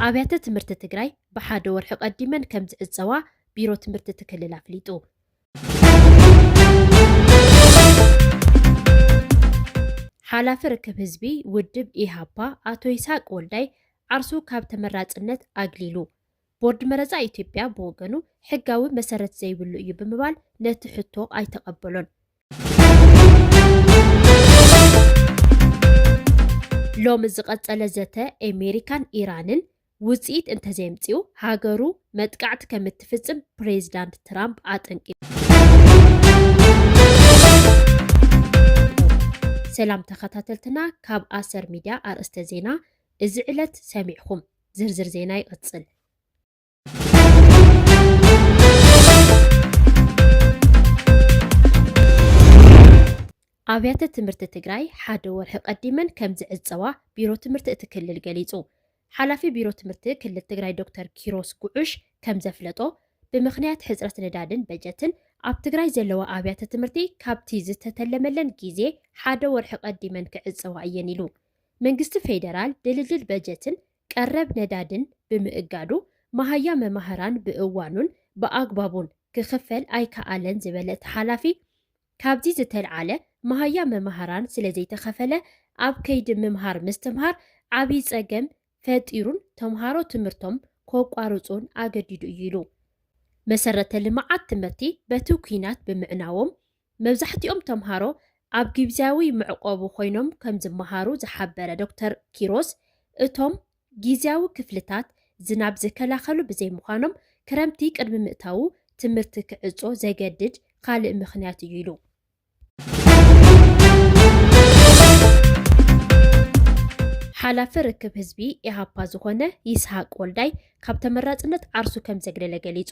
ኣብያተ ትምህርቲ ትግራይ ብሓደ ወርሒ ቀዲመን ከም ዝዕፀዋ ቢሮ ትምህርቲ እቲ ክልል ኣፍሊጡ። ሓላፊ ርክብ ህዝቢ ውድብ ኢሃፓ ኣቶ ይስሃቅ ወልዳይ ዓርሱ ካብ ተመራፅነት ኣግሊሉ። ቦርድ መረፃ ኢትዮጵያ ብወገኑ ሕጋዊ መሰረት ዘይብሉ እዩ ብምባል ነቲ ሕቶ ኣይተቐበሎን። ሎሚ ዝቐፀለ ዘተ ኣሜሪካን ኢራንን ውፅኢት እንተዘየምፅኡ ሃገሩ መጥቃዕቲ ከም እትፍፅም ፕሬዚዳንት ትራምፕ ኣጠንቂቑ። ሰላም ተኸታተልትና ካብ ኣሰር ሚድያ ኣርእስተ ዜና እዚ ዕለት ሰሚዕኹም ዝርዝር ዜና ይቕፅል። ኣብያተ ትምህርቲ ትግራይ ሓደ ወርሒ ቀዲመን ከም ዝዕፀዋ ቢሮ ትምህርቲ እቲ ክልል ገሊፁ። ሓላፊ ቢሮ ትምህርቲ ክልል ትግራይ ዶክተር ኪሮስ ጉዑሽ ከም ዘፍለጦ ብምኽንያት ሕፅረት ነዳድን በጀትን ኣብ ትግራይ ዘለዋ ኣብያተ ትምህርቲ ካብቲ ዝተተለመለን ግዜ ሓደ ወርሒ ቀዲመን ክዕፀዋ እየን ኢሉ። መንግስቲ ፌደራል ድልድል በጀትን ቀረብ ነዳድን ብምእጋዱ መሃያ መማህራን ብእዋኑን ብኣግባቡን ክኽፈል ኣይከኣለን ዝበለ እቲ ሓላፊ፣ ካብዚ ዝተልዓለ መሃያ መማህራን ስለዘይተኸፈለ ኣብ ከይዲ ምምሃር ምስትምሃር ዓብዪ ፀገም ፈጢሩን ተምሃሮ ትምህርቶም ከቋርፁን ኣገዲዱ እዩ ኢሉ። መሰረተ ልምዓት ትምህርቲ በቲ ኲናት ብምዕናዎም መብዛሕቲኦም ተምሃሮ ኣብ ጊብዝያዊ መዕቆቢ ኮይኖም ከምዝመሃሩ ዝሓበረ ዶክተር ኪሮስ እቶም ጊዝያዊ ክፍልታት ዝናብ ዝከላኸሉ ብዘይምዃኖም ክረምቲ ቅድሚ ምእታዉ ትምህርቲ ክዕጾ ዘገድድ ኻልእ ምኽንያት እዩ ኢሉ። ሓላፊ ርክብ ህዝቢ ኢሃፓ ዝኾነ ይስሃቅ ወልዳይ ካብ ተመራፅነት ዓርሱ ከምዘግለለ ገሊፁ።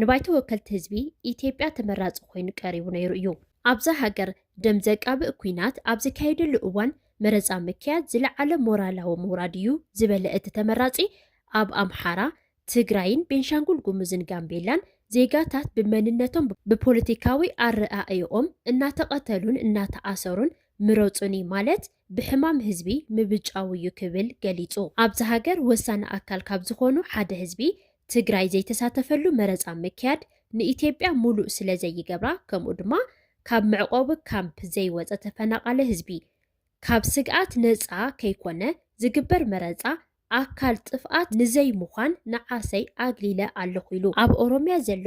ንባይቶ ወከልቲ ህዝቢ ኢትዮጵያ ተመራፂ ኮይኑ ቀሪቡ ነይሩ እዩ። ኣብዛ ሃገር ደም ዘቃብእ ኲናት ኣብ ዝካየደሉ እዋን መረፃ ምክያድ ዝለዓለ ሞራላዊ ምውራድ እዩ ዝበለ እቲ ተመራፂ፣ ኣብ ኣምሓራ፣ ትግራይን ቤንሻንጉል ጉሙዝን ጋምቤላን ዜጋታት ብመንነቶም ብፖለቲካዊ ኣረኣእይኦም እናተቐተሉን እናተኣሰሩን ምረፁኒ ማለት ብሕማም ህዝቢ ምብጫው እዩ ክብል ገሊፁ። ኣብዚ ሃገር ወሳኒ ኣካል ካብ ዝኾኑ ሓደ ህዝቢ ትግራይ ዘይተሳተፈሉ መረፃ ምክያድ ንኢትዮጵያ ሙሉእ ስለዘይገብራ ከምኡ ድማ ካብ መዕቖቢ ካምፕ ዘይወፀ ተፈናቓሊ ህዝቢ ካብ ስግኣት ነፃ ከይኮነ ዝግበር መረፃ ኣካል ጥፍኣት ንዘይምዃን ንዓሰይ ኣግሊለ ኣለኹ ኢሉ። ኣብ ኦሮሚያ ዘሎ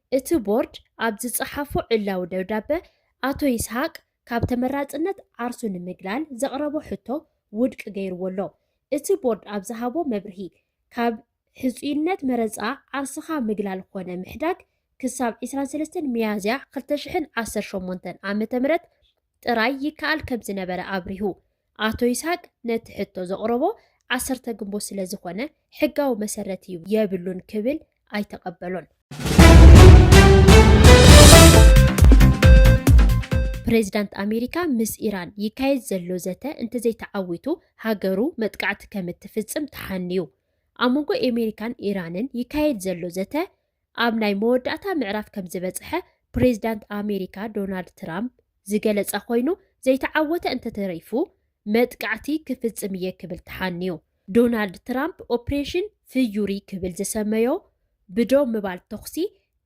እቲ ቦርድ ኣብ ዝፀሓፎ ዕላዊ ደብዳበ ኣቶ ይስሃቅ ካብ ተመራፅነት ዓርሱ ንምግላል ዘቕረቦ ሕቶ ውድቂ ገይርዎ ኣሎ። እቲ ቦርድ ኣብ ዝሃቦ መብርሂ ካብ ሕፁይነት መረፃ ዓርስኻ ምግላል ኾነ ምሕዳግ ክሳብ ዕስራን ሰለስተን ሚያዝያ ክልተ ሽሕን ዓሰርተ ሸሞንተን ዓ.ም ጥራይ ይከኣል ከምዝነበረ ኣብሪሁ። ኣቶ ይስሃቅ ነቲ ሕቶ ዘቕረቦ ዓሰርተ ግንቦት ስለ ዝኾነ ሕጋዊ መሰረት እዩ የብሉን ክብል ኣይተቐበሎን። ፕሬዚዳንት ኣሜሪካ ምስ ኢራን ይካየድ ዘሎ ዘተ እንተዘይተዓዊቱ ሃገሩ መጥቃዕቲ ከም እትፍጽም ተሓንዩ። ኣብ መንጎ ኣሜሪካን ኢራንን ይካየድ ዘሎ ዘተ ኣብ ናይ መወዳእታ ምዕራፍ ከምዝበፅሐ ፕሬዚዳንት ኣሜሪካ ዶናልድ ትራምፕ ዝገለፀ ኮይኑ ዘይተዓወተ እንተተሪፉ መጥቃዕቲ ክፍፅም እየ ክብል ተሓንዩ። ዶናልድ ትራምፕ ኦፕሬሽን ፍዩሪ ክብል ዝሰመዮ ብደው ምባል ተኹሲ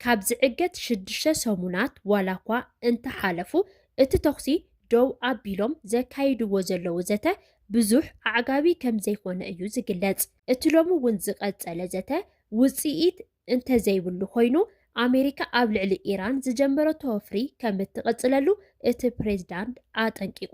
ካብ ዝዕገት ሽዱሽተ ሰሙናት ዋላ እኳ እንተሓለፉ እቲ ተኹሲ ደው ኣቢሎም ዘካይድዎ ዘለዉ ዘተ ብዙሕ ኣዕጋቢ ከምዘይኮነ እዩ ዝግለፅ። እቲ ሎሚ እውን ዝቐጸለ ዘተ ውጽኢት እንተዘይብሉ ኮይኑ፣ ኣሜሪካ ኣብ ልዕሊ ኢራን ዝጀመረቶ ወፍሪ ከም እትቕጽለሉ እቲ ፕሬዝዳንት ኣጠንቂቑ።